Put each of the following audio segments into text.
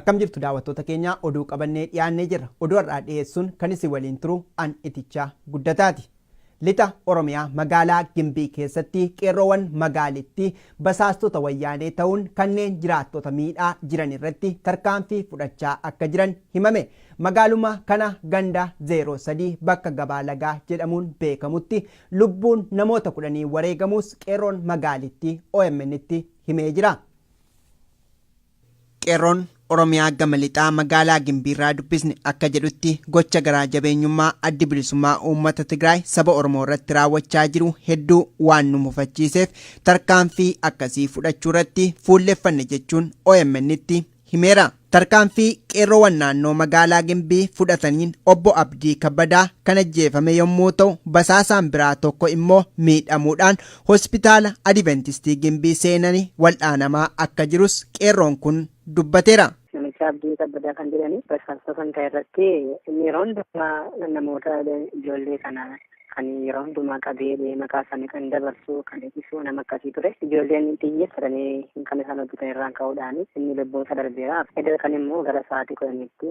Akkam jirtu daawwattoota keenya oduu qabannee dhiyaannee jirra. Oduu har'aa dhiyeessuun kan isin waliin turu an itichaa guddataati. Lixa Oromiyaa magaalaa Gimbii keessatti qeerroowwan magaalittii basaastota wayyaanee ta'uun kanneen jiraattota miidhaa jiran irratti tarkaanfii fudhachaa akka jiran himame. Magaaluma kana ganda 03 bakka Gabaa Lagaa jedhamuun beekamutti lubbuun namoota kudhanii wareegamuus qeerroon magaalittii OMNtti himee jira. Qeerroon Oromiyaa gama lixaa magaalaa Gimbiirraa dubbisne akka jedhutti gocha garaa jabeenyummaa Addi Bilisummaa Uummata Tigraay saba Oromoo irratti raawwachaa jiru hedduu waan nu mufachiiseef tarkaanfii akkasii fudhachuu irratti fuulleffanne jechuun OMN'tti himeera. Tarkaanfii qeerroowwan naannoo magaalaa Gimbii fudhataniin obbo Abdii Kabbadaa kan ajjeefame yommuu ta'u, basaasaan biraa tokko immoo miidhamuudhaan Hospitaala Adiventistii Gimbii seenani wal'aanamaa akka jirus qeerroon kun dubbateera. Namichi Abdii Kabbadaa kan jedhani rasaasa kan ka'e irratti inni yeroo hundumaa namoota ijoollee kana kan yeroo hundumaa qabee maqaa isaanii kan dabarsu kan ibsu nama akkasii ture. Ijoolleen xiyyeeffatanii kan isaan hojjetan irraan ka'uudhaan inni lubbuun isaa darbeera. Edda kan immoo gara sa'aatii kudhaniitti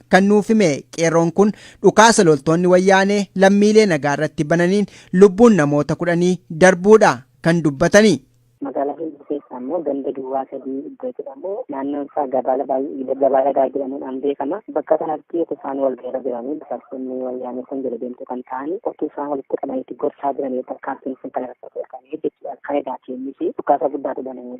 Kan nuuf hime qeerroon kun dhukaasa loltoonni wayyaanee lammiilee nagaa irratti bananiin lubbuun namoota kudhanii darbuudha kan dubbatani. Magaalaa Gimbii keessa ammoo ganda duwwaa sadii iddoo jedhamu naannoon isaa gabaala baay'ee gabaa dhagaa jedhamuudhaan beekama. Bakka kanatti utuu isaan wal gaheera jiranii basaastonni wayyaanee kun jala deemtuu kan ta'an utuu isaan walitti qabanitti gorsaa jiranii tarkaanfiin sun kan irratti argame jechuudha. Kan edaa keenyis dhukaasa guddaatu banamee.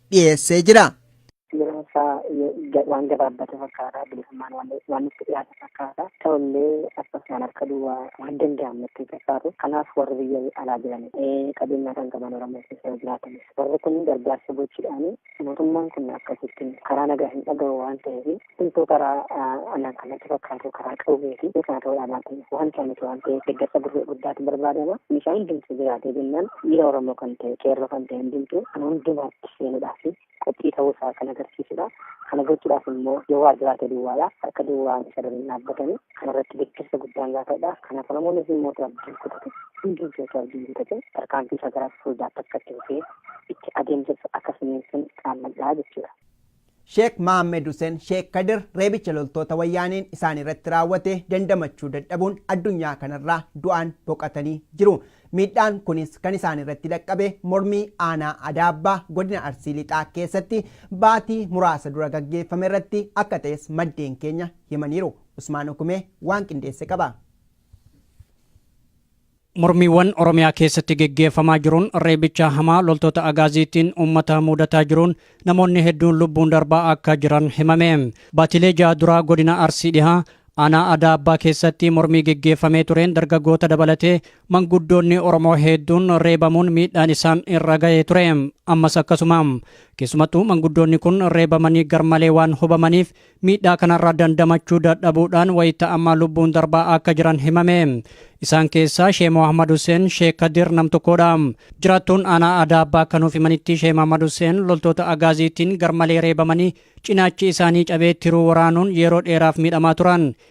dhiyeessee jira. Yeroon isaa waan gabaabbate fakkaata. Bilisummaan waan itti dhiyaate fakkaata. Ta'ullee akkasumaan harka duwwaa waan danda'amu itti fakkaatu. Kanaaf warri biyya alaa jiran qabeenyaa kan qaban Oromoo keessa jiraatanis warri kun gargaarsa gochuudhaan mootummaan kun akkasittiin karaa nagaa hin dhagahu waan ta'eef Hunduu karaa alaan kan natti fakkaatu karaa qawwee fi karaa ta'uu dhaabaatiin wanta miti waan ta'eef deeggarsa gurra guddaatu barbaadama. Meeshaa hundumtuu jiraatee jennaan dhiira Oromoo kan ta'e qeerroo kan ta'e hundumtuu kan hundumaatti seenuudhaa fi qophii ta'uu isaa kan agarsiisudha. Kana gochuudhaaf immoo yoo waa jiraate duwwaadha. Harka duwwaa isa dura hin dhaabbatani. Kana irratti deeggarsa guddaan gaafadha. Kanaaf Oromoonis immoo abdiin kutatu hundumtuu osoo abdiin kutate tarkaanfii isaa gara fuuldaatti akka itti fufee itti adeemsisu akka siniinsuun qaammadhaa jechuudha. Sheek Mahammed Huseen Sheek Kadir reebicha loltoota Wayyaaneen isaanirratti raawwate dandamachuu dadhabuun addunyaa kanarraa du'aan boqatanii jiru. Miidhaan kunis kan isaanirratti dhaqqabe mormii aanaa Adaabbaa godina Arsii Lixaa keessatti baatii muraasa dura gaggeeffamerratti akka ta'es maddeen keenya himaniiru. Usmaan Ukumee waan qindeesse qaba. Mormiiwwan Oromiyaa keessatti geggeeffamaa jiruun reebicha hamaa loltoota Agaaziitiin uummata muudataa jiruun namoonni hedduun lubbuun darbaa akka jiran himame. Baatilee ja'a duraa godina Arsii Dhihaa aanaa Adaa Abbaa keessatti mormii geggeeffamee tureen dargaggoota dabalatee manguddoonni Oromoo heedduun reebamuun miidhaan isaan irra ga'ee ture. Ammas akkasuma. Keessumattuu manguddoonni kun reebamanii garmalee waan hubamaniif Miidhaa kanarraa dandamachuu dadhabuudhaan wayita ammaa lubbuun darbaa akka jiran himame. Isaan keessaa Shee Mohammad Hussein Shee Kadir nam tokkodha. Jiraattuun aanaa aadaa abbaa akka nuuf himanitti Shee Mohammad Hussein loltoota agaaziitiin garmalee reebamanii cinaachi isaanii cabee tiruu waraanuun yeroo dheeraaf miidhamaa turan.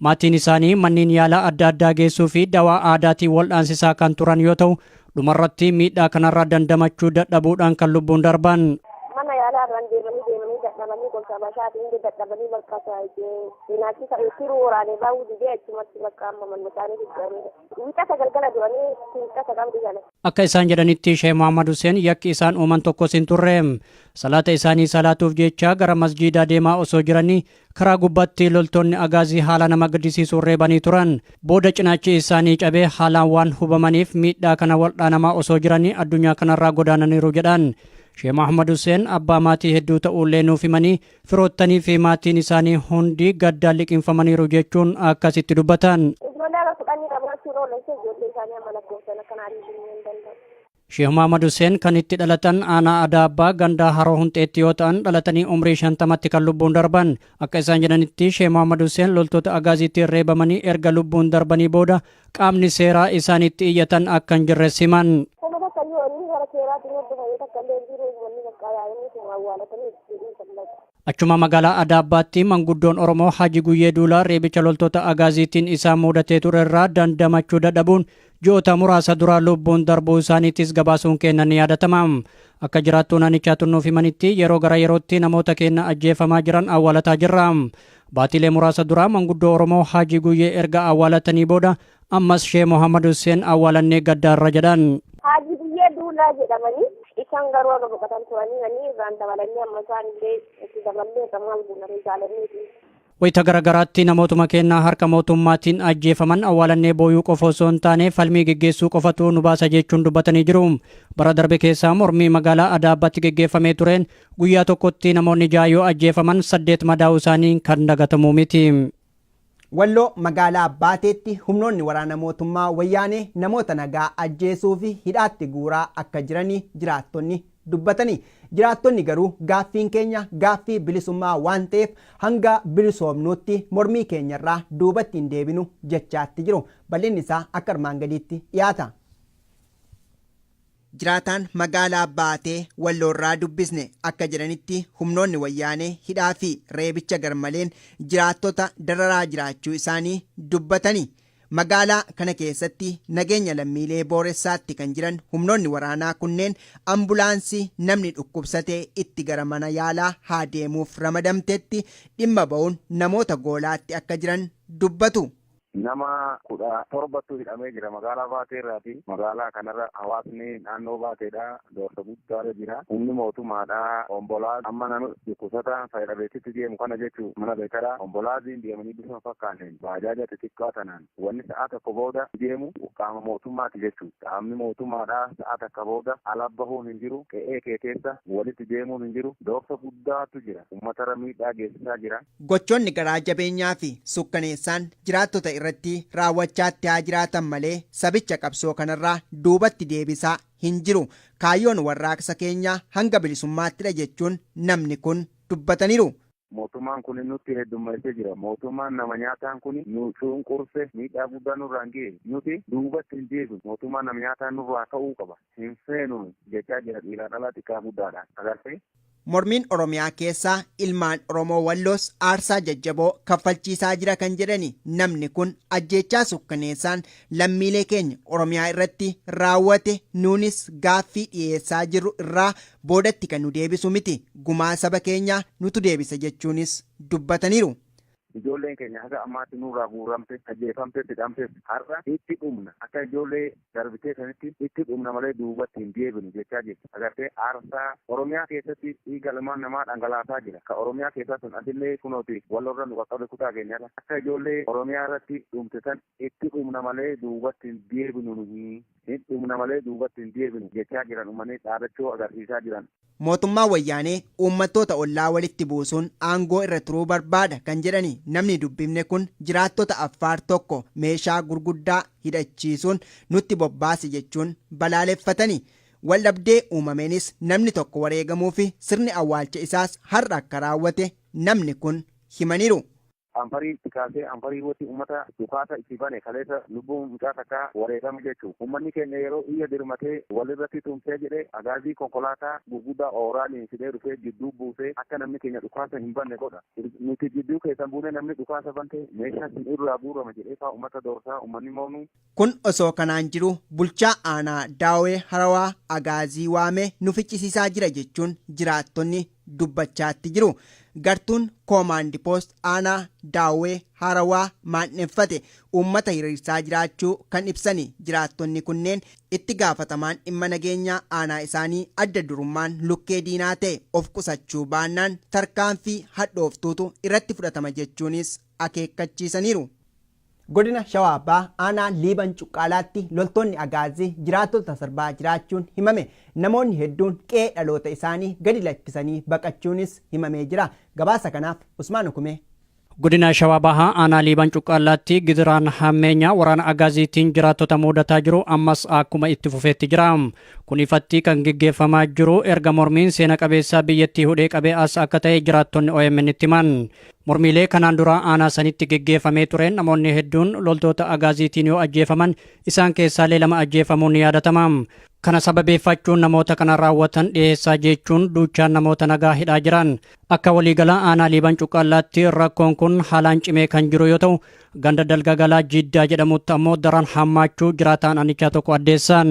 Maatiin isaanii manneen yaalaa adda addaa geessuu fi dawaa aadaatiin waldhaansisaa kan turan yoo ta'u, dhumarratti miidhaa kanarraa dandamachuu dadhabuudhaan kan lubbuun darban. Mana yaalaa irraan deemanii deemanii dadhabanii gosa bashaatiin illee dadhabanii bakka cinaachi ta'e tiruu waraanee baa'uu didee achumatti bakka amma manni isaanii jijjiiranii wiixata galgala du'anii wiixata qabdi jala. Akka isaan jedhanitti Sheeh Muhammad Hussein yakki isaan uuman tokkos hin turre. Salaata isaanii salaatuuf jecha gara masjiidaa deemaa osoo jiranii Karaa gubbaatti loltoonni Agaazii haala nama gaddisiisuun reebanii turan. Booda cinaachi isaanii cabee haalaan waan hubamaniif miidhaa kana waldhaanamaa osoo jiranii addunyaa kanarraa godaananiiru jedhan. Shee Mahmad Huseen abbaa maatii hedduu ta'uullee nuuf himanii firoottanii fi maatiin isaanii hundi gaddaan liqimfamaniiru jechuun akkasitti dubbatan. Ijoollee haga kudhanii dhabaachuun oolan ishee ijoollee isaanii amma lakkoofsan akka naannoo hin danda'u. Sheeh Maamad Huseen kan itti dhalatan aanaa Adaa Abbaa gandaa Haroo Hunxeetti yoo ta'an dhalatanii umrii shantamatti kan lubbuun darban. Akka isaan jedhanitti Sheeh Maamad Huseen loltoota Agaaziitiin reebamanii erga lubbuun darbanii booda qaamni seeraa isaanitti iyyatan akka hin jirres himan. Kana bakka inni wanni gara seeraatiin hordofamu takka illee hin jiru wanni bakka inni sun awwaalatanii itti jedhuu kan laata. Achuma magaalaa Adaabbaatti manguddoon Oromoo Haji Guyyee Duulaa reebicha loltoota Agaaziitiin isaan muudatee ture irraa dandamachuu dadhabuun ji'oota muraasa dura lubbuun darbuu isaaniitis gabaasuun keenna ni yaadatama. Akka jiraattuun aanichaa tun nuuf himanitti yeroo gara yerootti namoota keenna ajjeefamaa jiran awwaalataa jirra. Baatiilee muraasa dura manguddoo Oromoo Haji Guyyee erga awwaalatanii booda Ammas Shee Mohammad Husseen awwaalannee gaddaarra jedhan. Haaji Biyyee Duulaa jedhamanii isaan garuu akka boqotan turanii manii irraan dabalanii amma isaan illee itti daballee akka maal guunanii jaalanneeti. Wayita garagaraatti namootuma keenya harka mootummaatiin ajjeefaman awwaalannee booyuu qofa osoo hin taane falmii geggeessuu qofatu nu baasa jechuun dubbatanii jiru. Bara darbe keessaa mormii magaalaa Adaabaatti geggeeffamee tureen guyyaa tokkotti namoonni ja'a yoo ajjeefaman saddeet madaa'uu isaanii kan dagatamu miti. Walloo magaalaa Baateetti humnoonni waraana mootummaa Wayyaanee namoota nagaa ajjeesuu fi hidhaatti guuraa akka jirani jiraattonni dubbatani. Jiraattonni garuu gaaffiin keenya gaaffii bilisummaa waan ta'eef hanga bilisoomnuutti mormii keenyarraa duubatti hin deebinu jechaatti jiru. Bal'inni isaa akka armaan gadiitti dhiyaata. Jiraataan magaalaa Baatee Walloorraa dubbisne akka jedhanitti humnoonni Wayyaanee hidhaa fi reebicha garmaleen jiraattota dararaa jiraachuu isaanii dubbatani. Magaalaa kana keessatti nageenya lammiilee booressaatti kan jiran humnoonni waraanaa kunneen ambulaansii namni dhukkubsate itti gara mana yaalaa haa deemuuf ramadamtetti dhimma ba'uun namoota goolaatti akka jiran dubbatu. Nama 17tu hidhamee jira magaalaa Baatee irraati. Magaalaa kanarra hawaasni naannoo Baateedhaa doorsa guddaarra jira. Humni mootumaadhaa Ombolaaz amma nama dhukkubsata faya dhabeetitti deemu kana jechuu mana Beekara Ombolaaziin deemanii bifa hin fakkaanneen baajaaja xixiqqaa tanaan wanni sa'aa tokko booda deemu qaama mootummaati jechuu qaamni mootumaadhaa sa'aa takka booda ala bahuun hin jiru qe'ee kee keessa walitti deemuun hin jiru doorsa guddaatu jira ummatara miidhaa geessisaa jira. Gochoonni garaa jabeenyaa fi sukkaneessaan jiraattota irratti raawwachaa itti haa jiraatan malee sabicha qabsoo kanarraa duubatti deebisaa hin jiru. Kaayyoon warraaqsa keenyaa hanga bilisummaattidha jechuun namni kun dubbataniru. Mootummaan kuni nutti heddummeessee jira. Mootummaan nama nyaataan kuni nu cunqurse, miidhaa guddaa nurraan gahe. Nuti duubatti hin deebinu. Mootummaan nama nyaataa nurraa ka'uu qaba. Hin feenu jechaa jira dhiiraa dhalaa xiqqaa guddaadhaan. Agartee? Mormiin Oromiyaa keessaa ilmaan Oromoo Walloos aarsaa jajjaboo kaffalchiisaa jira kan jedhani namni kun ajjeechaa sukkaneessaan lammiilee keenya Oromiyaa irratti raawwate nuunis gaaffii dhiyeessaa jirru irraa boodatti kan nu deebisu miti gumaa saba keenyaa nutu deebisa jechuunis dubbataniiru. Ijoolleen keenya haga ammaatti nurraa guuramte, ajjeefamte, fixamtes har'a itti dhumna akka ijoollee darbitee sanitti itti dhumna malee duubatti hin deebinu jechaa jirti. Agartee aarsaa Oromiyaa keessatti dhiiga ilmaan namaa dhangalaasaa jira. Ka Oromiyaa keessaa sun asillee kunooti Wallorra nu qaqqabe kutaa keenyarra akka ijoollee Oromiyaa irratti dhumte san itti dhumna malee duubatti hin deebinu nuhi. Hin dhumna malee duubatti hin deebinu jechaa jiran ummanii dhaadachoo agarsiisaa jiran. Mootummaan Wayyaanee uummattoota ollaa walitti buusuun aangoo irra turuu barbaada kan jedhani namni dubbifne kun jiraattota Affaar tokko meeshaa gurguddaa hidhachiisuun nutti bobbaase jechuun balaaleffatani. Waldhabdee uumameenis namni tokko wareegamuufi sirni awwaalcha isaas har'a akka raawwate namni kun himaniiru. Anfarii itti kaasee Anfarii irratti ummata dhukaasa itti bane kaleessa lubbuu mucaa takkaa wareegame jechuun ummanni keenya yeroo iyya dirmatee walirratti tumsee jedhe agaazii konkolaataa gurguddaa ooraaliin fidee dhufee jidduu buusee akka namni keenya dhukaasa hin banne godha nuti jidduu keessan buunee namni dhukaasa bante meeshaan sin irraa guurama jedhee faa ummata doorsaa ummanni moonuu Kun osoo kanaan jiruu bulchaa aanaa Daawwee Harawaa Agaazii waamee nu ficcisiisaa jira jechuun jiraattonni dubbachaatti jiru. Gartuun Koomaandi Poost aanaa Daawwee Harawaa maandheffate uummata hiriirsaa jiraachuu kan ibsani jiraattonni kunneen itti gaafatamaan dhimma nageenyaa aanaa isaanii adda durummaan lukkee diinaa ta'e of qusachuu baannaan tarkaanfii hadhooftuutu irratti fudhatama jechuunis akeekkachiisaniiru. Godina Shawaa Bahaa aanaa Liiban Cuqqaalaatti loltoonni Agaazii jiraattota sarbaa jiraachuun himame. Namoonni hedduun qe'ee dhaloota isaanii gadi lakkisanii baqachuunis himamee jira. Gabaasa kanaaf Usmaan Ukumee. Godina Shawaa Bahaa aanaa Liiban Cuqqaalaatti gidiraan hammeenyaa waraana Agaaziitiin jiraattota muudataa jiru ammas akkuma itti fufeetti jira. Kun ifatti kan geggeeffamaa jiru erga mormiin seena qabeessaa biyyattii hudhee qabee as akka ta'e jiraattonni OMN itti himan. Mormiilee kanaan dura aanaa sanitti geggeeffamee tureen namoonni hedduun loltoota agaaziitiin yoo ajjeefaman isaan keessaalee lama ajjeefamuun ni yaadatama. Kana sababeeffachuun namoota kana raawwatan dhiheessaa jechuun duuchaan namoota nagaa hidhaa jiran. Akka waliigalaa aanaa Liiban Cuqqaallaatti rakkoon kun haalaan cimee kan jiru yoo ta'u, ganda Dalgagalaa Jiddaa jedhamutti ammoo daran hammaachuu jiraataan aanichaa tokko addeessan.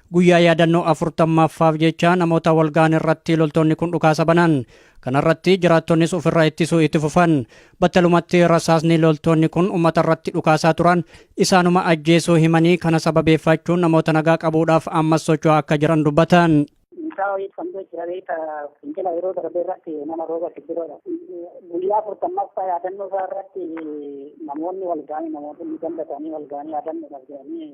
Guyyaa yaadannoo 40ffaaf jecha namoota wal ga'an irratti loltoonni kun dhukaasa banan. Kanarratti jiraattonnis ofirraa ittisuu itti fufan. Battalumatti rasaasni loltoonni kun uummata irratti dhukaasaa turan isaanuma ajjeesuu himanii kana sababeeffachuun namoota nagaa qabuudhaaf ammas socho'aa akka jiran dubbatan. Isaa wayii kan jira beeka fincila yeroo darbe irratti nama rooba sibiroodha. Guyyaa afurtammaffaa yaadannoo isaa irratti namoonni wal ga'anii namoonni ganda isaanii wal ga'anii yaadannoodhaaf jedhanii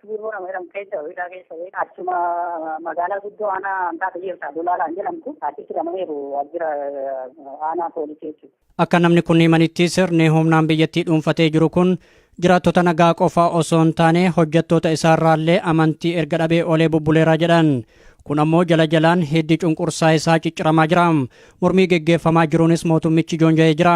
Biiroo nama jedhamu keessa hidhaa keessa achuma magaalaa guddoo aanaa hanqaa biyyeessa Dolaalaan jedhamtu achitti hidhamaniiru waajjira aanaa poolisii jechuudha. Akka namni kun himanitti sirni humnaan biyyattii dhuunfatee jiru kun jiraattota nagaa qofaa osoo hin taane hojjettoota isaarraallee amantii erga dhabee olee bubbuleera jedhan. Kun ammoo jala jalaan hiddi cunqursaa isaa cicciramaa jira. Mormii geggeeffamaa jiruunis mootummichi joonja'ee jira.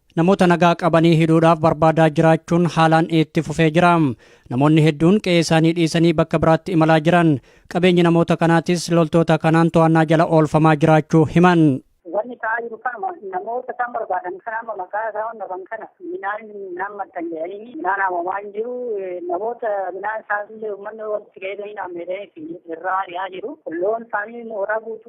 Namoota nagaa qabanii hidhuudhaaf barbaadaa jiraachuun haalaan itti fufee jira. Namoonni hedduun qe'ee isaanii dhiisanii bakka biraatti imalaa jiran. Qabeenyi namoota kanaatis loltoota kanaan to'annaa jala oolfamaa jiraachuu himan. Wanni ta'aa jiru kanuma namoota isaan barbaadan kana amma maqaa isaan dhaban kana midhaan midhaan maxxan jedhanii midhaan haamamaa hin jiru namoota midhaan isaanillee uummanni walitti fayyadamanii dhaammatanii irraa ari'aa jiru loon isaanii mooraa guutuu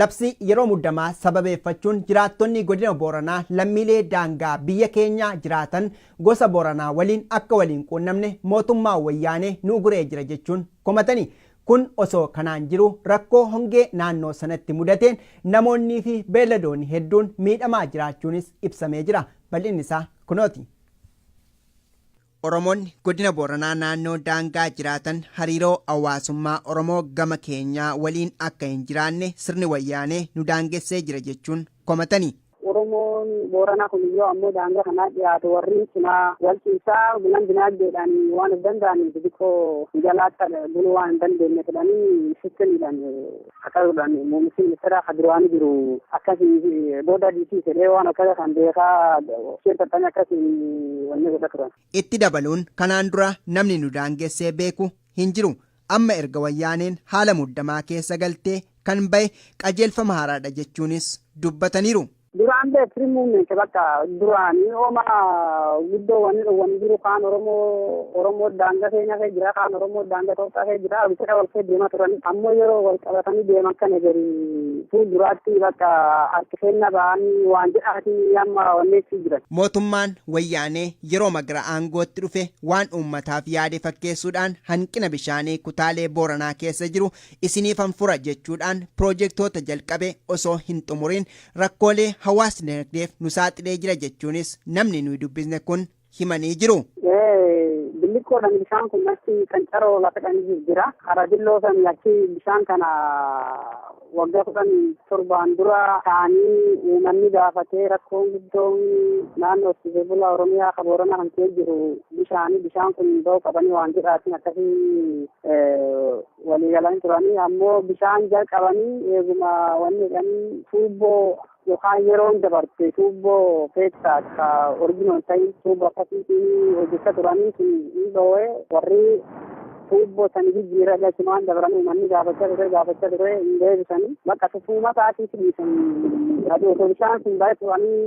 Labsii yeroo muddamaa sababeeffachuun jiraattonni Godina Booranaa lammiilee daangaa biyya keenyaa jiraatan gosa Booranaa waliin akka wal hin quunnamne mootummaan Wayyaanee nu uguree jira jechuun komatani. Kun osoo kanaan jiruu rakkoo hongee naannoo sanatti mudateen namoonnii fi beelladoonni hedduun miidhamaa jiraachuunis ibsamee jira. Bal'inni isaa kunooti. Oromoonni Godina Booranaa naannoo daangaa jiraatan hariiroo hawaasummaa Oromoo gama keenyaa waliin akka hin jiraanne sirni Wayyaanee nu daangessee jira jechuun komatanii. Oromoon Booranaa kun yoo ammoo daangaa kanaa dhiyaatu warri cinaa wal ciisaa bulan dinaagdeedhaan waan of danda'aniif xixiqqoo jalaatti buluu waan hin dandeenye jedhanii sitti hidhan. Haqaruudhaan muummichi ministeeraa kan duraanii jiru akkasii booda diisii jedhee waan akkasa kan beekaa isheen taphanii akkasiin wanni godha turan. Itti dabaluun kanaan dura namni nu daangessee beeku hin jiru. Amma erga wayyaaneen haala muddamaa keessa galtee kan ba'e qajeelfama haaraadha jechuunis dubbataniiru. Duraan bee free movement bakka duraanii hooma guddoo wanni dhowwanii jiru kaan Oromoo Oromoo daangaa keenya kee jira kaan Oromoo daangaa Itoophiyaa kee jira bifa wal kee deemaa turan ammoo yeroo wal qabatanii deeman kana gari fuulduraatti bakka harki keenya ba'anii waan jedhaanii amma wanneessii jiran. Mootummaan wayyaanee yeroo magra aangootti dhufe waan uummataaf yaade fakkeessuudhaan hanqina bishaanii kutaalee Booranaa keessa jiru isiniifan fura jechuudhaan piroojektoota jalqabe osoo hin xumuriin rakkoolee hawaas dinagdeef nu saaxilee jira jechuunis namni nuyi dubbisne kun himanii jiru. Billiqqoodhaan bishaan kun achi kan caroo lafa kan jira. Karaa dilloo sanii achi bishaan kana waggaa kudhan torbaan dura taa'anii uummanni gaafatee rakkoon guddoon naannoo horsiisee bulaa Oromiyaa kan Booranaa kan ka'ee jiru bishaanii bishaan kun ba'uu qabanii waan jedhaatiin akkasii walii galanii turanii ammoo bishaan jalqabanii eeguma wanni jedhanii tuubboo yookaan yeroon dabarte tuubboo keessaa ka originoon ta'in tuubboo akkasiitiin hojjechaa turanii sun hin dhoo'ee warri tuubboo sani jijjiirra galchumaan dabran uummanni gaafachaa ture gaafachaa ture hin deebisanii bakka tufuuma isaatiif dhiisanii aduu osoo bishaan sun baay'ee turanii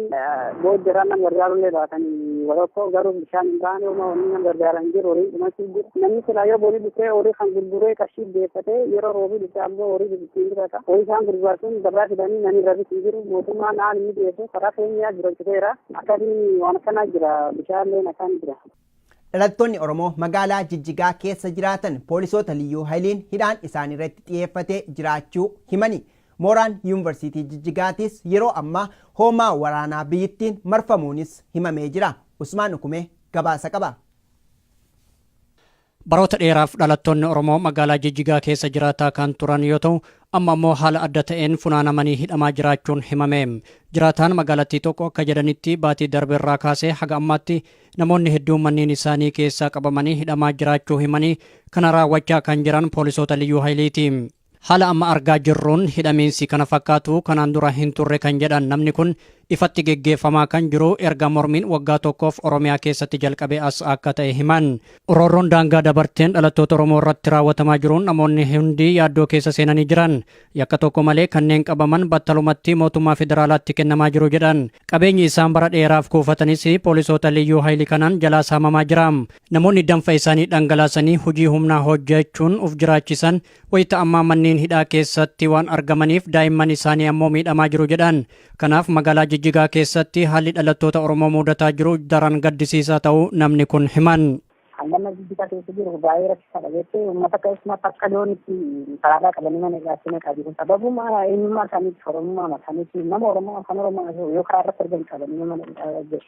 booddee irraa nama gargaarullee baatanii warra garuu Bishaan hin taane homaa wanni nama gargaaran hin jiru horiin dhumachuu jiru. Namni silaa yoo boolii dhufee horii kan gurguree qarshii deeffatee yeroo roobii dhufee ammoo horii bibitiin bitata. Horii isaan gurguraa sun gabaa fidanii namni rabis hin jiru. Mootummaan haala inni dhiyeessu karaa keenyaa jiraachiteera. Akkasiin waan akkanaa jira bishaanleen akkaan jira. Dhalattoonni Oromoo magaalaa Jijjigaa keessa jiraatan poolisoota liyyuu hayiliin hidhaan isaaniirratti xiyyeeffatee jiraachuu himanii Mooraan Yuunvarsiitii Jijjigaatiis yeroo ammaa hoomaa waraanaa biyyittiin marfamuunis himamee jira. Usmaan Ukumee gabaasa qaba. Baroota dheeraaf dhalattoonni Oromoo magaalaa Jijjigaa keessa jiraataa kan turan yoo ta'u, amma ammoo haala adda ta'een funaanamanii hidhamaa jiraachuun himame. Jiraataan magaalattii tokko akka jedhanitti baatii darbe irraa kaasee haga ammaatti namoonni hedduun manneen isaanii keessaa qabamanii hidhamaa jiraachuu himanii kana raawwachaa kan jiran poolisoota liyyuu hayiliiti. Haala amma argaa jirruun hidhamiinsi kana fakkaatu kanaan dura hin turre kan jedhan namni kun, ifatti geggeeffamaa kan jiru erga mormiin waggaa tokkoof Oromiyaa keessatti jalqabee as akka ta'e himan. Roorroon daangaa dabarteen dhalattoota Oromoo irratti raawwatamaa jiruun namoonni hundi yaaddoo keessa seenanii jiran. Yakka tokko malee kanneen qabaman battalumatti mootummaa federaalaatti kennamaa jiru jedhan. Qabeenyi isaan bara dheeraaf kuufatanis poolisoota Liyyuu Hayili kanaan jalaa saamamaa jira. Namoonni danfa isaanii dhangalaasanii hojii humnaa hojjechuun uf jiraachisan wayita ammaa manneen hidhaa keessatti waan argamaniif daa'imman isaanii ammoo miidhamaa jiru jedhan. Kanaaf magaalaa Jijjigaa keessatti haalli dhalattoota Oromoo muudataa jiru daran gaddisiisaa ta'uu namni kun himan. Haalli amma Jijjigaa keessa jiru baay'ee rakkisaadha jettee uummata keessumaa takka loon itti saraaraa qabanii mana hidhaatti naqaa jiru. Sababuma eenyummaa isaaniitti Oromummaa isaaniitti nama Oromoo afaan Oromoo yoo karaa irratti argan qabanii mana hidhaa jiru.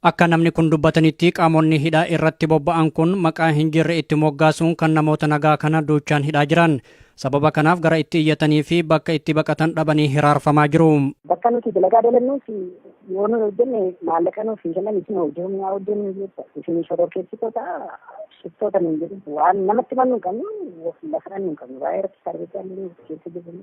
Akka namni kun dubbatanitti qaamonni hidhaa irratti bobba'an kun maqaa hin jirre itti moggaasuun kan namoota nagaa kana duuchaan hidhaa jiran. Sababa kanaaf gara itti iyyatanii fi bakka itti baqatan dhabanii hiraarfamaa jiru. Bakka nuti dalagaa dalannuuf yoo nu hojjenne maallaqa nuuf hin kennan isin hojii humnaa hojjennu jecha isin shororkeessitoota shiftoota nuun jedhu waan namatti himannu hin qabnu lafa dhannu hin qabnu baay'ee rakkisaa dha jecha keessa jirru.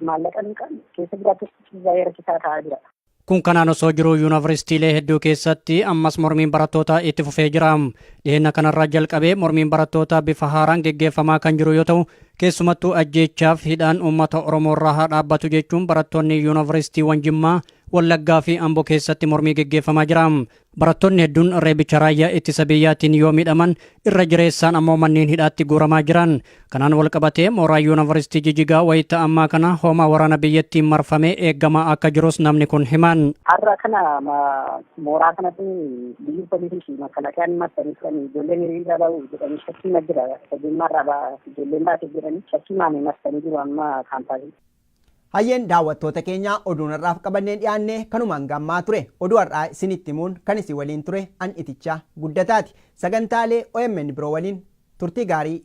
Maallaqa liqaan keessa jiraatus baay'ee rakkisaa ta'aa jira. Kun kanaan osoo jiruu yuunivarsiitiilee hedduu keessatti ammas mormiin barattootaa itti fufee jira. Dhiheenya kanarraa jalqabee mormiin barattootaa bifa haaraan geggeeffamaa kan jiru yoo ta'u, keessumattuu ajjeechaaf hidhaan uummata Oromoorraa haa dhaabbatu jechuun barattoonni yuunivarsiitiiwwan Jimmaa, Wallaggaa fi Ambo keessatti mormii geggeeffamaa jira. Barattoonni hedduun reebicha raayyaa ittisa biyyaatiin yoo miidhaman irra jireessaan ammoo manneen hidhaatti guuramaa jiran. Kanaan wal qabatee mooraa yuunivarsiitii Jijigaa wayita ammaa kana hoomaa waraana biyyattiin marfamee eegamaa akka jirus namni kun himan. Har'a kana mooraa kanatti biyyi poolisii fi makalakayaan marsanii turan ijoolleen hiriira ba'u jedhanii shakkii ma jira. Fageenya irraa ba'a ijoolleen baate jedhanii shakkii maamee marsanii jiru amma kaampaasii. Hayyeen daawwattoota keenya oduun har'aaf qabannee dhiyaanne kanuma hanga ammaa ture. Oduu har'aa isinitti himuun kan isin waliin ture an Itichaa Guddataati. Sagantaalee omn biroo waliin turtii gaarii.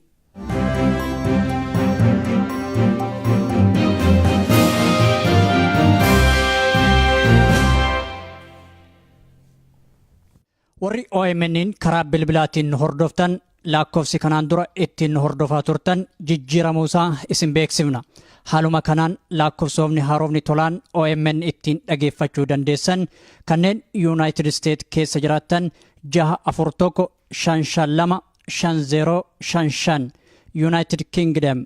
Warri OMN'n karaa bilbilaatiin nu hordoftan laakkofsi kanaan dura ittiin nu hordofaa turtan jijjiiramuu isaa isin beeksifna. Haaluma kanaan laakkofsoomni haarofni tolaan OMN ittiin dhageeffachuu dandeessan kanneen Yuunaayitid Isteet keessa jiraattan 641 552 5055 Yuunaayitid Kingdom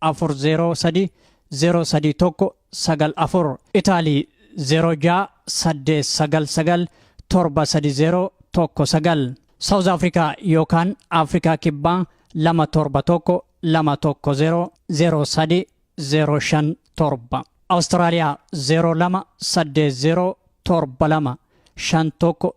afur zeeroo sadii zeeroo sadii tokko sagal afur Itaalii zeeroo ja'a saddeet sagal sagal torba sadii zeeroo tokko sagal Saawuz Afrikaa yookaan Afrikaa Kibbaa lama torba tokko lama tokko zeeroo zeeroo sadii zeeroo shan torba Awustiraaliyaa zeeroo lama saddeet zeeroo torba lama shan tokko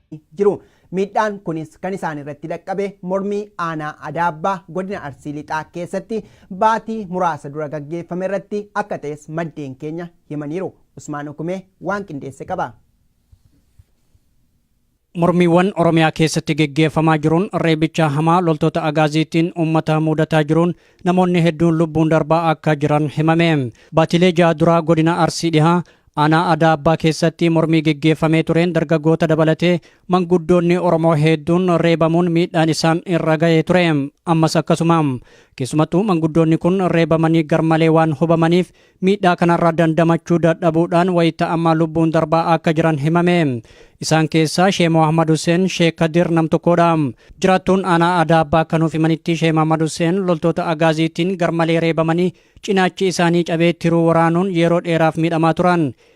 jiru. Miidhaan kunis kan isaan irratti dhaqqabe mormii aanaa Adaabbaa godina Arsii Lixaa keessatti baatii muraasa dura gaggeeffame irratti akka ta'es maddeen keenya himaniiru. Usmaan Ukumee waan qindeesse qaba. Mormiiwwan Oromiyaa keessatti geggeeffamaa jiruun reebicha hamaa loltoota Agaaziitiin uummata muudataa jiruun Namoonni hedduun lubbuun darbaa akka jiran himame. Baatilee ja'a duraa godina Arsii Dhihaa aanaa Adaa Abbaa keessatti mormii geggeeffamee tureen dargaggoota dabalatee manguddoonni Oromoo hedduun reebamuun miidhaan isaan irra ga'ee ture. Ammas akkasuma. Keessumattuu manguddoonni kun reebamanii garmalee waan hubamaniif Miidhaa kanarraa dandamachuu dadhabuudhaan wayita ammaa lubbuun darbaa akka jiran himame. Isaan keessaa Shee Mohammad Huseen, Shee Kadir nam tokkodha. Jiraattuun aanaa Adaa Abbaa akka nuuf himanitti Shee Mohammad Huseen loltoota Agaaziitiin garmalee reebamanii cinaachi isaanii cabee tiruu waraanuun yeroo dheeraaf miidhamaa turan.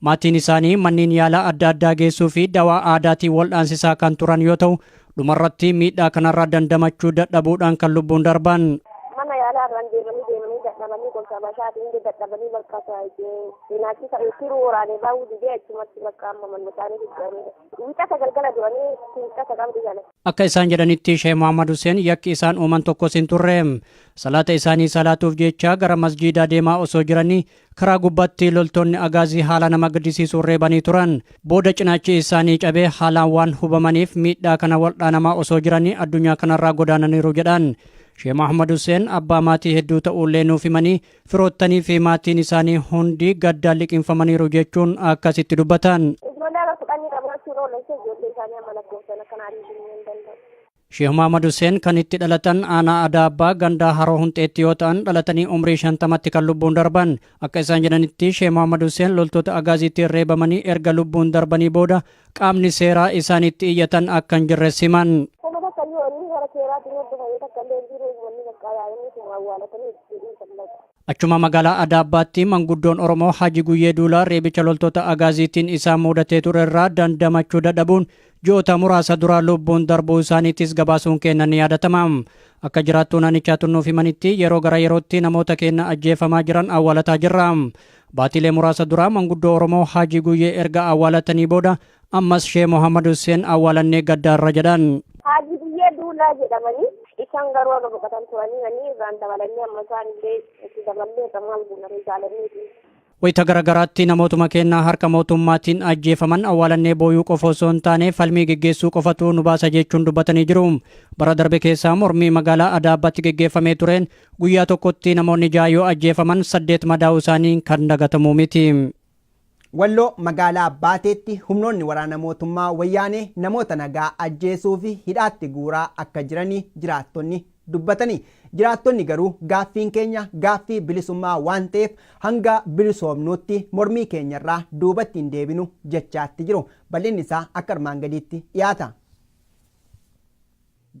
Maatiin isaanii manneen yaalaa adda addaa geessuu fi dawaa aadaatiin waldhaansisaa kan turan yoo ta'u, dhumarratti miidhaa kanarraa dandamachuu dadhabuudhaan kan lubbuun darban. Mana yaalaa irraan deemanii deemanii dadhabanii gorsa bashaatiin illee dadhabanii bakka cinaachi ta'e tiruu waraanee baa'uu didee achumatti bakka amma manni isaanii jijjiiramee wixata galgala du'anii wixata qabdi gala. Akka isaan jedhanitti Sheeh Muhammad Hussein yakki isaan uuman tokkos hin turre. Salaata isaanii salaatuuf jecha gara masjiidaa deemaa osoo jiranii Karaa gubbaatti loltoonni Agaazii haala nama gaddisiisuun reebanii turan. Booda cinaachi isaanii cabee haalaan waan hubamaniif miidhaa kana waldhaanamaa osoo jiranii addunyaa kanarraa godaananiiru jedhan. Shee Mahmad Huseen abbaa maatii hedduu ta'uullee nuuf himanii firoottanii fi maatiin isaanii hundi gaddaan liqinfamaniiru jechuun akkasitti dubbatan. Ijoollee haga kudhanii qabaachuun oolan ishee ijoollee isaanii amma lakkoofsan akka naaf himuu hin danda'u. Sheeh Mahamad Huseen kan itti dhalatan aanaa Adaa Abbaa gandaa Haroo Hunxeetti yoo ta'an dhalatanii umrii shantamatti kan lubbuun darban. Akka isaan jedhanitti Sheeh Mahamad Huseen loltoota Agaaziitiin reebamanii erga lubbuun darbanii booda qaamni seeraa isaan itti iyyatan akka hin jirres himan. Homa takka iyyuu wanni hara seeraatiin hordofame takka illee hin jiru wanni bakka yaa'inni sun awwaalatanii itti jedhuu sallata. Achuma magaalaa Adaabbaatti manguddoon Oromoo Haji Guyyee Duulaa reebicha loltoota Agaaziitiin isaan muudatee ture irraa dandamachuu dadhabuun ji'oota muraasa dura lubbuun darbuu isaaniitis gabaasuun keenna ni yaadatama. Akka jiraattuu naannichaa tunnuuf himanitti yeroo gara yerootti namoota keenna ajjeefamaa jiran awwaalataa jirra. Baatiilee muraasa dura manguddoo Oromoo Haji Guyyee erga awwaalatanii booda Ammas Shee Mohammad Husseen awwaalannee gaddaarra jedhan. Haajii Biyyee Duulaa jedhamanii isaan garuu akka boqotan turanii manii irraan dabalannee amma isaan illee itti daballee akka maal guunaree jaalanneeti. Wayita garagaraatti namootuma keenya harka mootummaatiin ajjeefaman awwaalannee booyuu qofa osoo hin taane falmii geggeessuu qofatu nu baasa jechuun dubbatanii jiru. Bara darbe keessaa mormii magaalaa Adaabaatti geggeeffamee tureen guyyaa tokkotti namoonni ja'a yoo ajjeefaman saddeet madaa'uu isaanii kan dagatamu miti. Walloo magaalaa Baateetti humnoonni waraana mootummaa Wayyaanee namoota nagaa ajjeesuu fi hidhaatti guuraa akka jirani jiraattonni dubbatani. Jiraattonni garuu gaaffiin keenya gaaffii bilisummaa waan ta'eef hanga bilisoomnuutti mormii keenyarraa duubatti hin deebinu jechaatti jiru. Bal'inni isaa akka armaan gadiitti dhiyaata.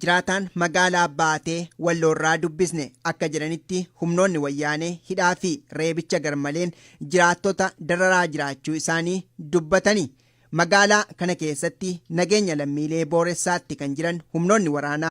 Jiraataan magaalaa Baatee Walloorraa dubbisne akka jedhanitti humnoonni Wayyaanee hidhaa fi reebicha garmaleen jiraattota dararaa jiraachuu isaanii dubbatani. Magaalaa kana keessatti nageenya lammiilee booressaatti kan jiran humnoonni waraanaa.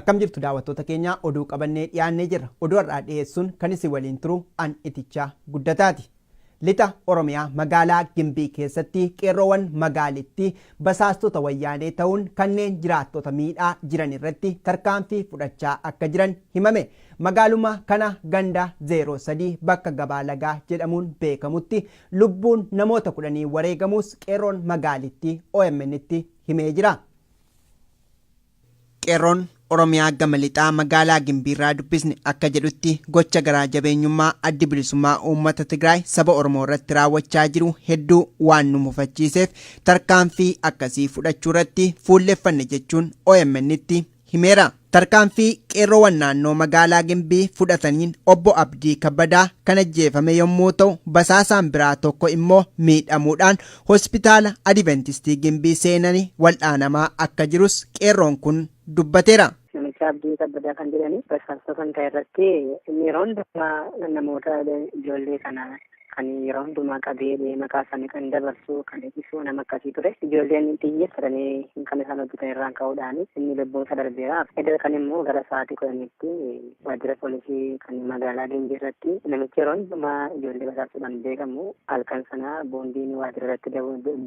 Akkam jirtu daawwattoota keenya oduu qabannee dhiyaannee jirra. Oduu har'aa dhiyeessuun kan isin waliin turu an itichaa guddataati. Lixa Oromiyaa magaalaa Gimbii keessatti qeerroowwan magaalittii basaastota wayyaanee ta'uun kanneen jiraattota miidhaa jiran irratti tarkaanfii fudhachaa akka jiran himame. Magaaluma kana ganda 03 bakka Gabaa Lagaa jedhamuun beekamutti lubbuun namoota kudhanii wareegamuus qeerroon magaalittii OMNtti himee jira. Qeerroon Oromiyaa gama lixaa magaalaa Gimbiirraa dubbisne akka jedhutti gocha garaa jabeenyummaa addi bilisummaa uummata Tigraay saba Oromoo irratti raawwachaa jiru hedduu waan nu mufachiiseef tarkaanfii akkasii fudhachuu irratti fuulleffanne jechuun OMNtti himeera. Tarkaanfii qeerrowan naannoo magaalaa Gimbii fudhataniin obbo Abdii Kabbadaa kan ajjeefame yommuu ta'u basaasaan biraa tokko immoo miidhamuudhaan hospitaala Adiventistii Gimbii seenani wal'aanamaa akka jirus qeerroon kun dubbateera. Namicha Abdii Kabbadaa kan jedhani basaastota kan ta'e irratti inni yeroo hundumaa namoota ijoollee kana Kan yeroo hundumaa qabee bee maqaa isaanii kan dabarsu kan ibsu nama akkasii ture. Ijoolleen xiyyeeffatanii kan isaan hojjetan irraan ka'uudhaan inni lubbuun isaa darbeera. Edda kan immoo gara sa'aatii kudhaniitti waajjira poolisii kan magaalaa Gimbii irratti namichi yeroo hundumaa ijoollee basaasuudhaan beekamu halkan sana boombiin waajjira irratti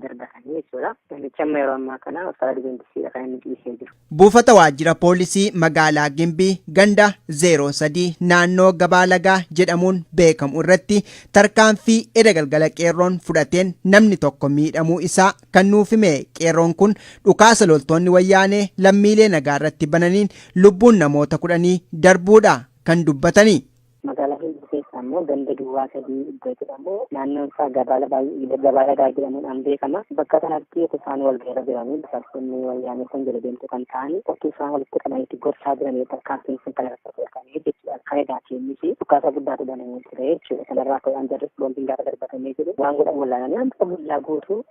darbatanii jechuudha. Namichi amma yeroo ammaa kana uffata dibeentisiidha kan inni ciisee jiru. Buufata waajjira poolisii magaalaa Gimbii ganda 03 naannoo Gabaa Lagaa jedhamuun beekamu irratti tarkaanfii eda galgala qeerroon fudhateen namni tokko miidhamuu isaa kan nuuf hime qeerroon kun dhukaasa loltoonni wayyaanee lammiilee nagaa irratti bananiin lubbuun namoota kudhanii darbuudha kan dubbatanii. Magaalaa Hinduu keessa ammoo ganda duwwaa sadii iddoo jedhamu naannoon isaa gabaala baay'ee gabaala gaa jedhamuudhaan beekama. Bakka kanatti utuu isaan wal gaira jiranii basaastonni wayyaanee kun jala deemtuu kan ta'an utuu isaan walitti qabanitti gorsaa jiranii tarkaanfiin sun kan irratti fudhatamee jechuudha. Kan egaa keenyis dhukaasa guddaatu banamee ture jechuudha. Kanarraa ka'uudhaan jarris boombiin gaafa darbatamee jiru waan godhan wallaalanii amma guyyaa guutuu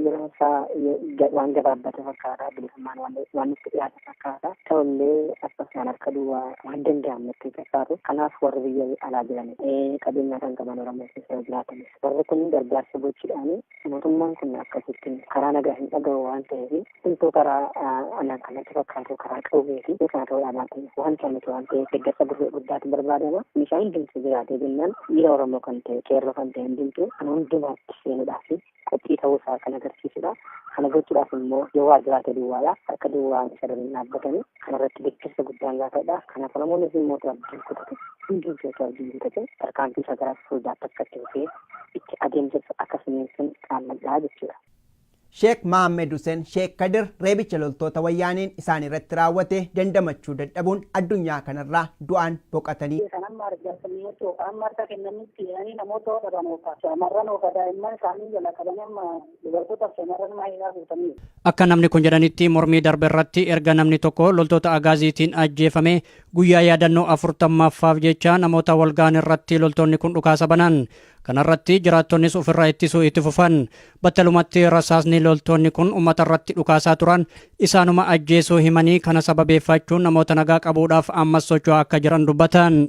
Yeroon isaa waan gabaabbate fakkaata. Bilisummaan waan itti dhiyaate fakkaata. Ta'ullee akkasumaan harka duwwaa waan danda'amu itti fakkaatu. Kanaaf warri biyya alaa jiran qabeenyaa kan qaban Oromoo keessa jiraatanis warri kun gargaarsa gochuudhaan mootummaan kun akkasitti karaa nagaa hin dhagahu waan ta'eef hunduu karaa anaan kanatti fakkaatu karaa qawwee fi kana ta'uu dhaabaatiin waan ta'anitu waan ta'eef deeggarsa gurguruu guddaatu barbaadama. Meeshaan hundumtuu jiraatee jennaan dhiira Oromoo kan ta'e qeerroo kan ta'e hundumtuu kan hundumaatti seenuudhaaf qophii ta'uu isaa kan agarsiisudha. Kana gochuudhaaf immoo yoo waa jiraate duwwaadha. Harka duwwaa isa hin dhaabbatanii kana irratti deeggarsa guddaan gaafadha. Kanaaf Oromoon isin mootu abdiin kutate hunduu jootu abdiin kutate tarkaanfii isaa gara fuulduraatti akka itti fufee itti adeemsisu akka finiinsan qaammadhaa jechuudha. Sheek Mahammed Huseen Sheek Kadir reebicha loltoota wayyaaneen isaan irratti raawwate dandamachuu dadhabuun addunyaa kanarraa du'aan boqatanii. Kan amma argaa jirru amma harka kennanii Seenanii namoota hodhaban oofa. Shamarran oofa daa'imman isaanii jala qabanii amma dubartootaaf shamarran maayiinaa guutanii. Akka namni kun jedhanitti mormii darbe irratti erga namni tokko loltoota agaaziitiin ajjeefame guyyaa yaadannoo afurtammaffaaf jecha namoota walga'an irratti loltoonni kun dhukaasa banan. Kanarratti jiraattonnis ofirraa ittisuu itti fufan. Battalumatti rasaasni loltoonni kun uummata irratti dhukaasaa turan isaanuma ajjeesuu himanii kana sababeeffachuun namoota nagaa qabuudhaaf ammas socho'aa akka jiran dubbatan.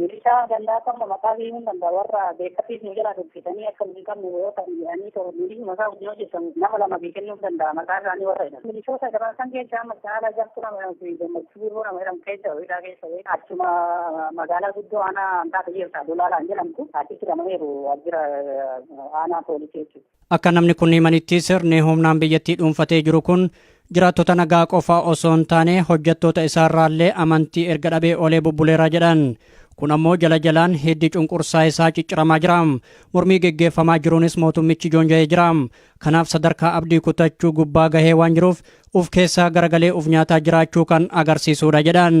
Milishaa gandaa qabna maqaa fi himuun danda'a warra beekatiif nu jalaa dubbisanii akka nu hin qabne yoo ta'an jedhanii too milishuma isaa wajjin hojjetan nama lama fi kennuun danda'a maqaa isaanii warra jedhan. Milishoota garaa san keessaa amma caalaa jartu nama jedhamu fi gammachuu birruu nama jedhamu keessa hidhaa keessa wayii achuma magaalaa guddoo aanaa hanqaata jirta dulaalaan jedhamtu achitti hidhamaniiru waajjira aanaa poolisii jechuudha. Akka namni kun himanitti sirni humnaan biyyattii dhuunfatee jiru kun jiraattota nagaa qofaa osoo hin taane hojjettoota isaarraallee amantii erga dhabee olee bubbuleera jedhan. Kun ammoo jala jalaan hiddi cunqursaa isaa cicciramaa jira. Mormii geggeeffamaa jiruunis mootummichi joonja'ee jira. Kanaaf sadarkaa abdii kutachuu gubbaa gahee waan jiruuf uf keessaa garagalee uf nyaataa jiraachuu kan agarsiisuudha jedhan.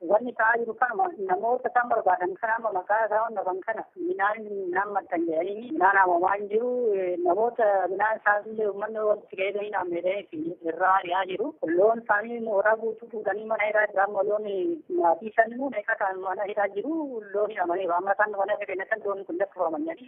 Wanni ta'aa jiru kanuma namoota isaan barbaadan kana amma maqaa isaa hordofan kana midhaan midhaan martan jedhanii midhaan haamamaa hin jiru namoota midhaan isaas illee uummanni walitti ga'ee gahii naan meedhanii irraa ari'aa jiru loon isaanii mooraa guutuu fuudhanii mana hidhaa jiru amma loon maatii shan meeqa ta'an mana hidhaa jiru loon hidhamaniiru amma isaan mana hidhaa kennatan loon kun lakkifaman jedhanii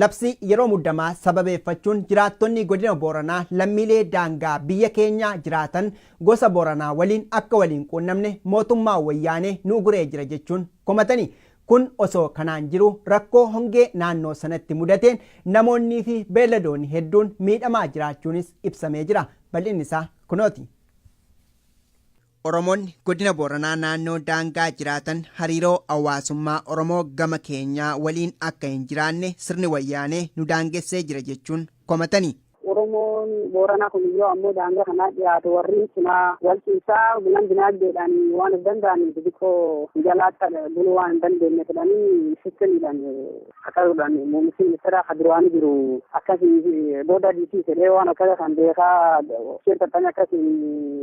Labsii yeroo muddamaa sababeeffachuun jiraattonni Godina Booranaa lammiilee daangaa biyya keenyaa jiraatan gosa Booranaa waliin akka wal hin quunnamne mootummaa Wayyaanee nu uguree jira jechuun komatani. Kun osoo kanaan jiruu rakkoo hongee naannoo sanatti mudateen namoonnii fi beelladoonni hedduun miidhamaa jiraachuunis ibsamee jira. Bal'inni isaa kunooti. Oromoonni Godina Booranaa naannoo daangaa jiraatan hariiroo hawaasummaa Oromoo gama keenyaa waliin akka hin jiraanne sirni Wayyaanee nu daangessee jira jechuun komatani. Oromoon Booranaa kun yoo ammoo daangaa kanaa dhiyaatu warreen cinaa wal ciisaa gulan dinaagdeedhaan waan of danda'aniif xixiqqoo jalaatti buluu waan hin dandeenye jedhanii sistemiidhaan Kakaruudhaan muummichi ministeeraa kan duraanii jiru akkasii booda diitii jedhee waan akkasa kan beekaa isheen taphanii akkasii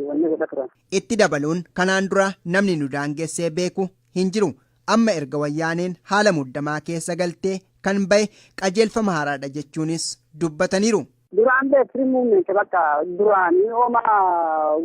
wanni godha turan. Itti dabaluun kanaan dura namni nu daangessee beeku hin jiru. Amma erga wayyaaneen haala muddamaa keessa galtee kan bahe qajeelfama haaraadha jechuunis dubbataniiru. Duraan beekri muummeensa bakka duraanii hooma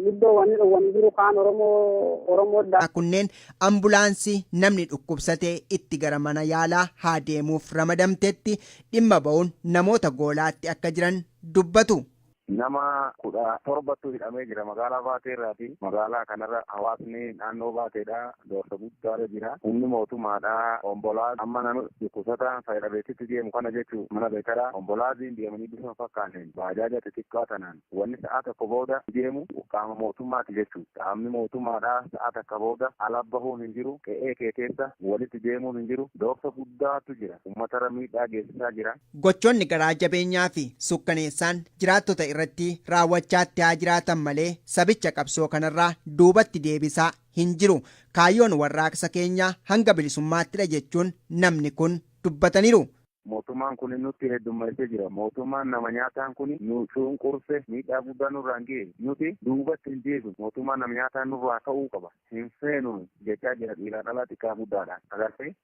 guddoo wanni dhowwanii jiru kaan Oromoo Oromoo dha. Kunneen ambulaansii namni dhukkubsate itti gara mana yaalaa haa deemuuf ramadamtetti dhimma ba'uun namoota goolaatti akka jiran dubbatu. Nama kudha torbatu hidhamee jira magaalaa Baatee irraati. Magaalaa kanarra hawaasni naannoo Baateedhaa Doorsa guddaarra jira. Humni mootummaadhaa ombolaa amma nama dhukkusataan fayadhabeetitti deemu kana jechu mana beekara ombolaaziin deemanii bifa hin fakkaanneen baajaaja xixiqqaa tanaan wanni sa'aa tokko booda deemu qaama mootummaati jechu. Qaamni mootummaadhaa sa'aa takka booda ala bahuun hin jiru, qe'ee kee keessa walitti deemuun hin jiru. Doorsa guddaatu jira. Ummatarra miidhaa geessisaa jira. Gochoonni garaa jabeenyaafi sukkaneessaan jiraattota irratti raawwachaatti haa jiraatan malee sabicha qabsoo kanarraa duubatti deebisaa hin jiru. Kaayyoon warraaqsa keenyaa hanga bilisummaattidha jechuun namni kun dubbataniiru. Mootummaan kuni nutti heddummeessee jira. Mootummaan nama nyaataan kuni nu cunqurse, miidhaa guddaa nurraan ge'e. Nuti duubatti hin deebinu. Mootummaan nama nyaataa nurraa ka'uu qaba. Hin feenu jechaa jira dhiiraa dhalaa, xiqqaa guddaadhaan. Agartee?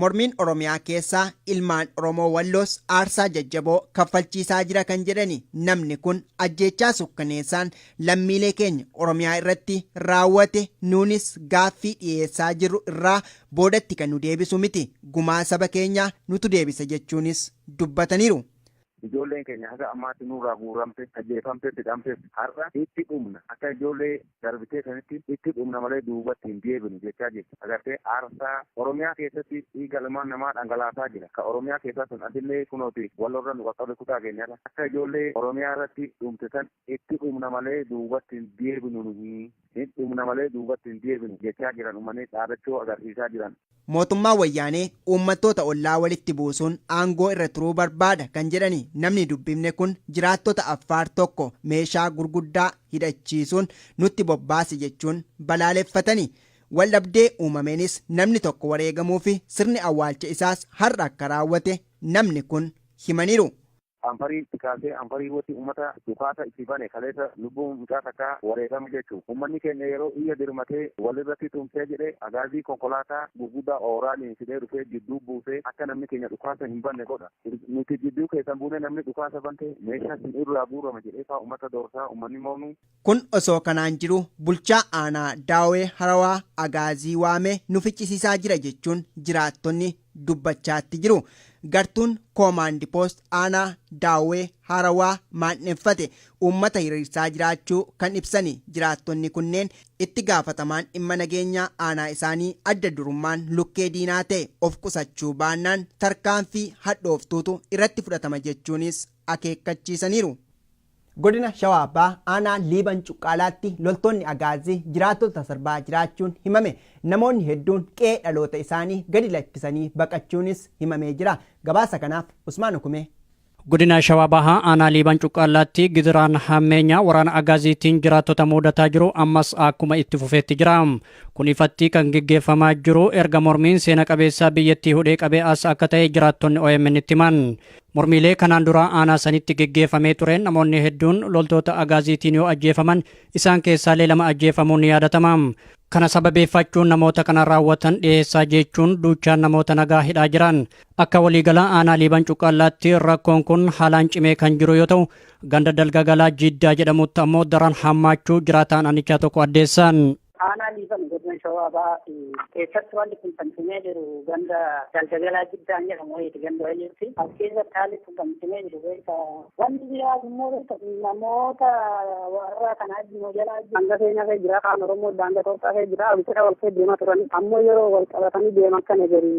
Mormiin Oromiyaa keessaa ilmaan Oromoo Walloos aarsaa jajjaboo kaffalchiisaa jira kan jedhani namni kun ajjeechaa sukkaneessaan lammiilee keenya Oromiyaa irratti raawwate nuunis gaaffii dhiyeessaa jirru irraa boodatti kan nu deebisu miti gumaa saba keenyaa nutu deebisa jechuunis dubbataniiru. Ijoolleen keenya haga ammaatti nurraa guuramte, ajjeefamte, fixamtes har'a itti dhumna akka ijoollee darbitee sanitti itti dhumna malee duubatti hin deebinu jechaa jirti. Agartee aarsaa Oromiyaa keessatti dhiiga ilmaan namaa dhangalaasaa jira. Ka Oromiyaa keessaa sun asillee kunooti Wallorra nu qaqqabe kutaa keenyarra akka ijoollee Oromiyaa irratti dhumte san itti dhumna malee duubatti hin deebinu nuhi. Ni dhumna malee duubatti hin deebinu jechaa jiran uummanni dhaadachoo agarsiisaa jiran. Mootummaan Wayyaanee uummattoota ollaa walitti buusuun aangoo irra turuu barbaada kan jedhani namni dubbifne kun jiraattota Affaar tokko meeshaa gurguddaa hidhachiisuun nutti bobbaase jechuun balaaleffatani. Waldhabdee uumameenis namni tokko wareegamuufi sirni awwaalcha isaas har'a akka raawwate namni kun himaniiru. Anfarii itti kaasee Anfarii irratti ummata dhukaasa itti bane kaleessa lubbuu mucaa takkaa wareegame jechuun ummanni keenya yeroo iyya dirmatee walirratti tumsee jedhe agaazii konkolaataa gurguddaa ooraaliin fidee dhufee jidduu buusee akka namni keenya dhukaasa hin banne godha nuti jidduu keessan buunee namni dhukaasa bante meeshaa isin irraa guurama jedhee faa ummata doorsaa ummanni moonuu Kun osoo kanaan jiruu bulchaa aanaa Daawwee Harawaa Agaazii waamee nu ficcisiisaa jira jechuun jiraattonni dubbachaatti jiru. Gartuun Koomaandi Poost aanaa Daawwee Harawaa maandheffate uummata hiriirsaa jiraachuu kan ibsani jiraattonni kunneen itti gaafatamaan dhimma nageenyaa aanaa isaanii adda durummaan lukkee diinaa ta'e of qusachuu baannaan tarkaanfii hadhooftuutu irratti fudhatama jechuunis akeekkachiisaniiru. Godina Shawaa Bahaa aanaa Liiban Cuqqaalaatti loltoonni Agaazii jiraattota sarbaa jiraachuun himame. Namoonni hedduun qe'ee dhaloota isaanii gadi lakkisanii baqachuunis himamee jira. Gabaasa kanaaf Usmaan Ukumee. Godina Shawaa Bahaa aanaa Liiban Cuqqaalaatti gidiraan hammeenyaa waraana Agaaziitiin jiraattota muudataa jiru ammas akkuma itti fufeetti jira. Kun ifatti kan geggeeffamaa jiru erga mormiin seena qabeessaa biyyattii hudhee qabee as akka ta'e jiraattonni OMN itti himan. Mormiilee kanaan dura aanaa sanitti geggeeffamee tureen namoonni hedduun loltoota agaaziitiin yoo ajjeefaman isaan keessaalee lama ajjeefamuun ni yaadatama. Kana sababeeffachuun namoota kana raawwatan dhiheessaa jechuun duuchaan namoota nagaa hidhaa jiran. Akka waliigalaa aanaa Liiban Cuqqaallaatti rakkoon kun haalaan cimee kan jiru yoo ta'u, ganda Dalgagalaa Jiddaa jedhamutti ammoo daran hammaachuu jiraataan aanichaa tokko addeessan. Aanaa Liiban godina Shawaa Bahaa fi keessatti wanti kun kan cimee jiru ganda Galdagalaa Jiddaan jedhamu wayiiti ganda wayiitti. As keessatti haalli kun kan cimee jiru beekta. Wanti biraa immoo beekta namoota warra kanaa immoo jala hanga seenaa kee jira kaan Oromoo daangaa Itoophiyaa kee jira walitti wal kee deemaa turan. Ammoo yeroo wal qabatanii deeman kana gadi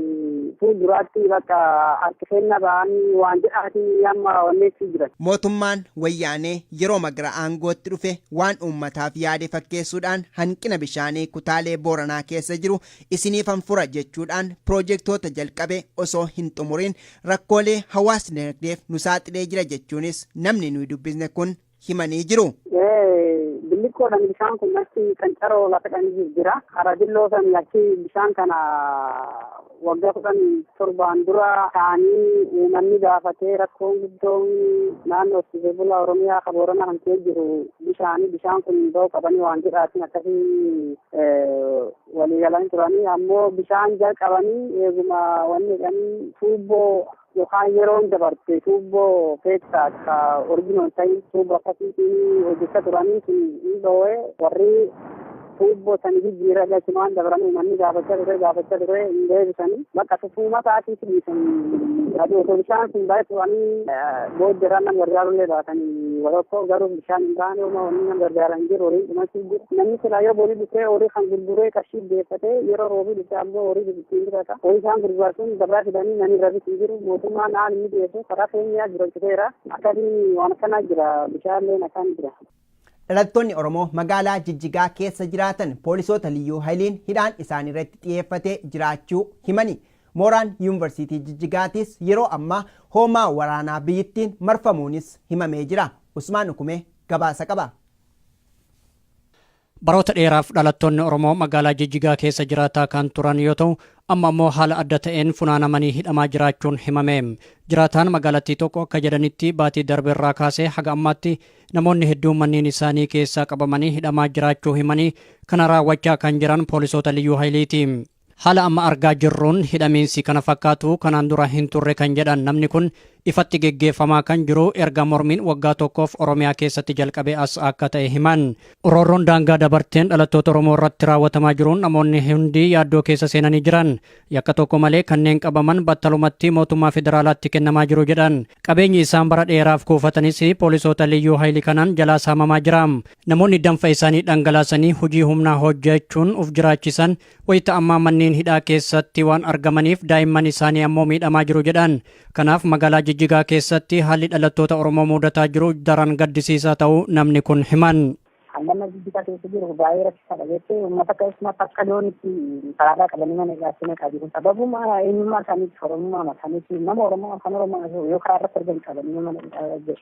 fuulduraatti bakka harki seenna ba'anii waan jedhaati amma onneetti jiran. Mootummaan wayyaanee yerooma gara aangootti dhufe waan uummataaf yaade fakkeessuudhaan hanqina bishaanii kutaalee Booranaa keessa jiru isiniifan fura jechuudhaan piroojektoota jalqabe osoo hin xumuriin rakkoolee hawaas-dinagdeef nu saaxilee jira jechuunis namni nuyi dubbisne kun himanii jiru. Billiqqoodhaan bishaan kun achi qancaroo lafa dhaan jijjira. Karaa dilloo san achi bishaan kana Waggaa kudhan torbaan dura taa'anii uummanni gaafatee rakkoon guddoon naannoo horsiisee bulaa Oromiyaa kan Booranaa kan ka'ee jiru bishaanii bishaan kun ba'uu qabanii waan jedhaatiin akkasii walii galanii turanii ammoo bishaan jalqabanii eeguma wanni jedhanii tuubboo Yookaan yeroon dabarte tuubboo keessaa akka original ta'in tuubboo akkasiitiin hojjechaa turanii sun hin dhoo'ee warri tuubboo sani jijjiirra galchumaan dabran uummanni gaafachaa ture gaafachaa ture hin deebisanii bakka tufuuma isaatiif dhiisanii aduu osoo bishaan sun baay'ee turanii booddeeraan nama gargaarullee baatanii warrakkoo garuu bishaan hin baane uma wanni nama gargaaran hin jiru horii dhumachuu jiru namni silaa yoo boolii dhufee horii kan gurguree qarshii deeffatee yeroo roobii dhufee ammoo horii ittiin bitata. Oomishaan gurbaa sun gabaa fidanii namni irra bitu hin jiru. Mootummaan haala inni dhiyeessu karaa keenyaa jiraachiteera. Akkasiin waan akkanaa jira. Bishaanleen akkaan jira. Dhalattoonni Oromoo magaalaa Jijjigaa keessa jiraatan poolisoota liyyuu hayliin hidhaan isaaniirratti xiyeeffatee jiraachuu himani. Mooraan Yuunvarsiitii Jijjigaatis yeroo ammaa hoomaa waraanaa biyyittiin marfamuunis himamee jira. Usmaan Ukumee gabaasa qaba. Baroota dheeraaf dhalattoonni Oromoo magaalaa Jijjigaa keessa jiraataa kan turan yoo ta'u, amma ammoo haala adda ta'een funaanamanii hidhamaa jiraachuun himame. Jiraataan magaalattii tokko akka jedhanitti baatii darbe irraa kaasee haga ammaatti namoonni hedduun manneen isaanii keessaa qabamanii hidhamaa jiraachuu himanii kana raawwachaa kan jiran poolisoota Liyyuu Hayiliiti. Haala amma argaa jirruun hidhamiinsi kana fakkaatu kanaan dura hin turre kan jedhan namni kun, ifatti geggeeffamaa kan jiru erga mormiin waggaa tokkoof Oromiyaa keessatti jalqabee as akka ta'e himan. Roorroon daangaa dabarteen dhalattoota Oromoo irratti raawwatamaa jiruun namoonni hundi yaaddoo keessa seenanii jiran. Yakka tokko malee kanneen qabaman battalumatti mootummaa federaalaatti kennamaa jiru jedhan. Qabeenyi isaan bara dheeraaf kuufatanis poolisoota Liyyuu Hayili kanaan jalaa saamamaa jira. Namoonni danfa isaanii dhangalaasanii hojii humnaa hojjechuun of jiraachisan wayita ammaa manneen hidhaa keessatti waan argamaniif daa'imman isaanii ammoo miidhamaa jiru jedhan. Kanaaf magaalaa Jijjigaa keessatti haalli dhalattoota Oromoo muudataa jiru daran gaddisiisaa ta'uu namni kun himan. Haallamma Jijjigaa keessa jiru baay'ee rakkisaadha jettee uummata keessumatti akka loonitti karaarraa qabanii mana hidhaatti naqaa jiru. Sababuma eenyummaa isaaniitti Oromummaa isaaniitti nama Oromoo afaan Oromoo yoo karaarratti argan qabanii mana hidhaa jiru.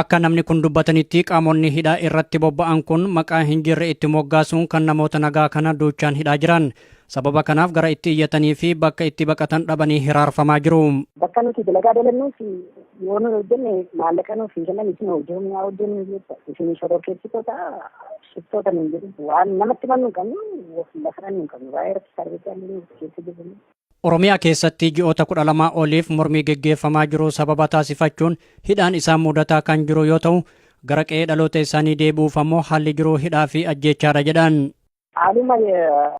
Akka namni kun dubbatanitti qaamonni hidhaa irratti bobba'an kun maqaa hin jirre itti moggaasuun kan namoota nagaa kana duuchaan hidhaa jiran. Sababa kanaaf gara itti iyyatanii fi bakka itti baqatan dhabanii hiraarfamaa jiru. Bakka nuti dalagaa dalannuuf yoo nu hojjenne maallaqa nuuf hin kennan isin hojii humnaa hojjennu jecha isin shororkeessitoota shiftoota nuun jedhu waan namatti himannu hin qabnu lafa dhannu hin qabnu baay'ee rakkisaa dha jecha keessa jirru. Oromiyaa keessatti ji'oota 12 oliif mormii geggeeffamaa jiru sababa taasifachuun hidhaan isaan mudataa kan jiru yoo ta'u, gara qe'ee dhaloota isaanii deebi'uuf ammoo haalli jiru hidhaa fi ajjeechaadha jedhan. Haaluma